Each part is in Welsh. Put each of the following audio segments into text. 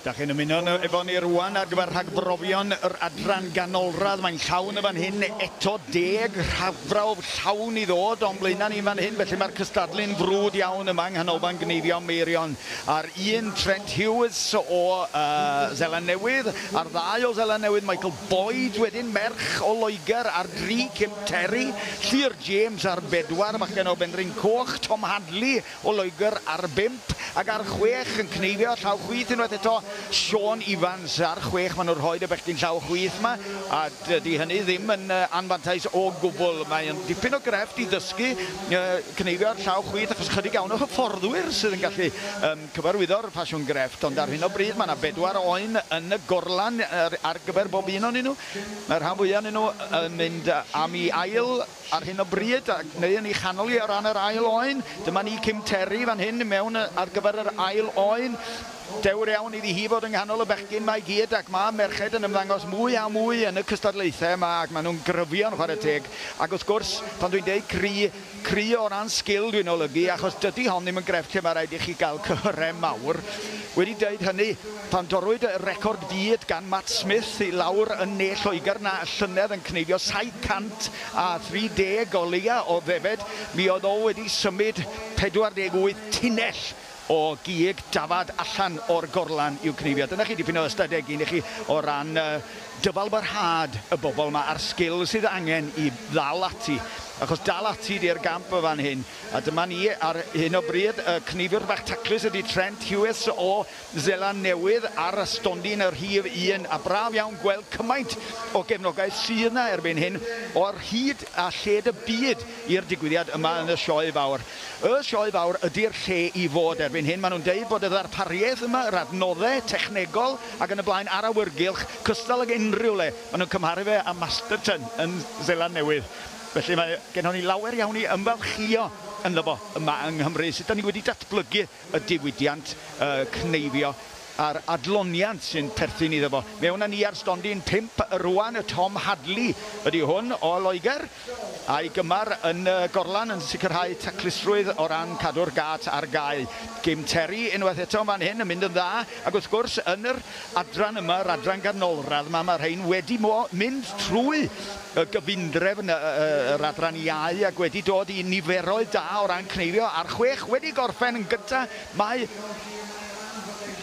Da chi'n ymuno efo ni rwan ar gyfer rhagbrofion yr adran ganolradd. Mae'n llawn y fan hyn eto deg rhafrawf llawn i ddod o'n blaenau ni'n fan hyn. Felly mae'r cystadlu'n frwd iawn yma yng Nghanolfan Gneifio Meirion. A'r un Trent Hughes o uh, Zeland Newydd, a'r ddau o Zeland Newydd, Michael Boyd wedyn merch o Loegr ar dri, Kim Terry, Llŷr James ar bedwar, bachgen o Benrhyn Coch, Tom Hadley o Loegr ar bump, ac ar chwech yn cneifio llaw chwith unwaith eto, Siôn Ifans ar chwech. Maen nhw'n rhoid y bechgyn llaw chwith yma a dydy hynny ddim yn anfantais o gwbl. Mae'n dipyn o grefft i ddysgu cneifio'r llaw chwith achos ychydig iawn o hyfforddwyr sydd yn gallu Cyfarwyddo'r ffasiwn grefft, ond ar hyn o bryd mae 'na bedwar oen yn y gorlan ar gyfer bob un o'nyn nhw. Mae'r rhan fwya' o'nyn nhw yn mynd am 'i ail ar hyn o bryd, neu yn 'i chanol hi o ran yr ail oen. Dyma ni, Kim Terry fan hyn i mewn ar gyfer yr ail oen. Dewr iawn iddi hi fod yng nghanol y bechgyn 'ma i gyd, ac mae merched yn ymddangos mwy a mwy yn y cystadlaethau yma, ac maen nhw'n gryfio'n chwarae teg. Ac wrth gwrs, pan dwi'n deud cry, Cri o ran sgil dwi'n olygu achos dydi hon ddim yn grefft lle mae rhaid i chi gael cyhyrau mawr. Wedi dweud hynny, pan dorrwyd y record byd gan Matt Smith i lawr yn ne Lloegr 'na y llynedd yn cneifio 730 o leiau o ddefed, mi oedd o wedi symud 48 tunnell! o gig dafad allan o'r gorlan i'w cneifio. Dyna chi dipyn o ystadeg un i chi o ran yy dyfalbarhad y bobl 'ma a'r sgil sydd angen i ddal ati. Achos dal ati 'di'r gamp yn fan hyn. A dyma ni ar hyn o bryd, y cneifiwr bach taclus ydi Trent Hughes o Seland Newydd ar y stondin y rhif un, a braf iawn gweld cymaint o gefnogaeth sydd 'na erbyn hyn o ar hyd a lled y byd i'r digwyddiad yma yn y Sioe Fawr. Y Sioe Fawr ydi'r lle i fod erbyn hyn. Maen nhw'n deud bod y ddarpariaeth yma, yr adnoddau technegol ac yn y blaen a'r awyrgylch, cystal ag unrhyw le. Maen nhw'n cymharu fe â Masterton yn Seland Newydd. Felly mae gennon ni lawer iawn i ymfalchïo ynddo fo yma yng Nghymru. Sut 'dan ni wedi datblygu y diwydiant, y cneifio a'r adloniant sy'n perthyn iddo fo. Mewn â ni ar stondin pump rŵan, Tom Hadley ydy hwn o Loegr, a'i gymar yn y gorlan yn sicrhau taclusrwydd o ran cadw'r gât ar gau. Jim Terry unwaith eto yn fan hyn yn mynd yn dda, ac wrth gwrs yn yr adran yma, yr adran ganolradd 'ma, ma' rhein wedi mo- mynd trwy y gyfundrefn yr adran iau ac wedi dod i niferoedd da o ran cneifio a'r chwech wedi gorffen yn gyntaf mae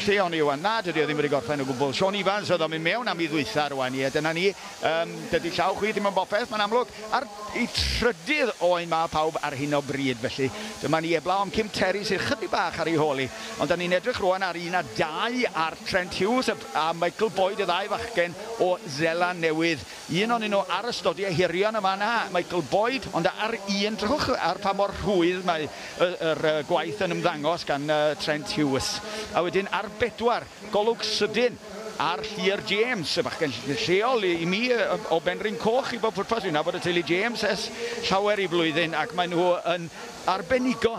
lle o'n i rwan? Na, dydy o ddim wedi gorffen o gwbl. Siôn Ifans oedd o'n mynd mewn am i ddwytha rwan, ie, dyna ni. Um, dydy llaw chwi ddim yn bopeth, mae'n amlwg. A'r i trydydd oen mae pawb ar hyn o bryd, felly dyma ni eblaw am Kim Terry sydd chydig bach ar ei hôl i. Ond da ni'n edrych rwan ar un a dau ar Trent Hughes a Michael Boyd, y ddau fachgen o Zela Newydd. Un onyn nhw ar y stodi ehirion yn fan'na, Michael Boyd, ond ar un drwch, ar pa mor rhwydd mae y yr yy gwaith yn ymddangos gan yy Trent Hughes. A wedyn ar bedwar, golwg sydyn ar Llŷr James, y bachgen lleol i mi yy o Benrhyn Coch i bob pwrpas, dwi'n nabod y teulu James ers llawer i flwyddyn ac mae nhw yn arbenigo.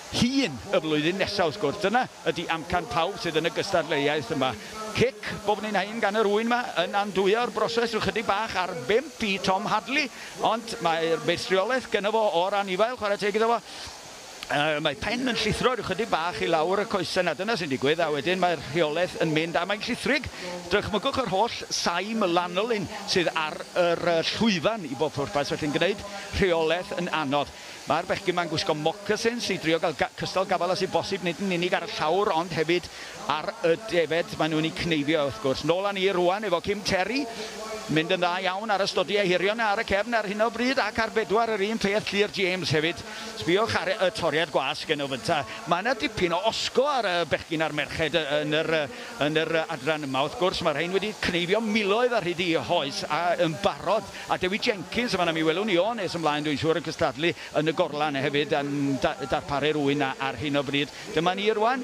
hun y flwyddyn nesaf wrth gwrs. Dyna ydi amcan pawb sydd yn y gystadleuaeth yma. Cic bob un haen gan yr ŵyn yma yn andwyo'r broses rhyw chydig bach ar bump i Tom Hadley, ond mae'r meistriolaeth gynno fo o'r anifail, chwarae teg iddo fo. Yy mae pen yn llithro rhyw chydig bach i lawr y coesau 'na, dyna sy'n digwydd, a wedyn mae'r rheolaeth yn mynd a mae'n llithrig. Dychmygwch yr holl saim lanolin sydd ar yr yy llwyfan i bob pwrpas, felly'n gneud rheolaeth yn anodd. Mae'r bechgyn ma'n gwisgo mocasins i drio gael cystal gafael a sy'n bosib nid yn unig ar y llawr ond hefyd ar y defaid maen nhw'n eu cneifio wrth gwrs. Nôl â ni rŵan efo Kim Terry. Mynd yn dda iawn ar y stodiau hirion ar y cefn ar hyn o bryd ac ar bedwar yr un peth Llŷr James hefyd. Sbïwch ar y toriad gwasg yn ofynta. Mae yna dipyn o osgo ar y bechgyn a'r merched yn yr yn yr adran yma wrth gwrs. Mae rhein wedi cneifio miloedd ar hyd eu hoes a yn barod A Dewi Jenkins yn fan'na, mi welwn ni o nes ymlaen dwi'n siŵr yn cystadlu yn y gorlan hefyd yn darparu'r ŵyn 'na ar hyn o bryd. Dyma ni rŵan,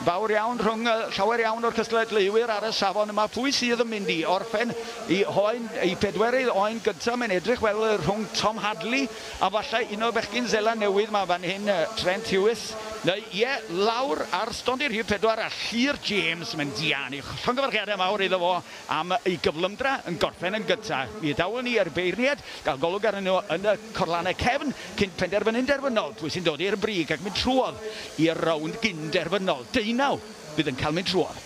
fawr iawn rhwng llawer iawn o'r cystadleuwyr ar y safon yma. Pwy sydd yn mynd i orffen i hoen, i pedwerydd oen gynta'? Mae'n edrych fel rhwng Tom Hadley a falle un o'r bechgyn Seland Newydd 'ma fan hyn, Trent Huws, neu ie, lawr ar stondin rhif pedwar a Llŷr James, mae'n dianc. Llongyfarchiadau mawr iddo fo. am y gyflymdra yn gorffen yn gyntaf. Mi adawon ni ar y beirniad gael golwg arnyn nhw yn y corlannau cefn cyn penderfynu'n derfynol pwy sy'n dod i'r brig ac mynd trwodd i'r rownd gyn-derfynol. Deunaw fydd yn cael mynd trwodd.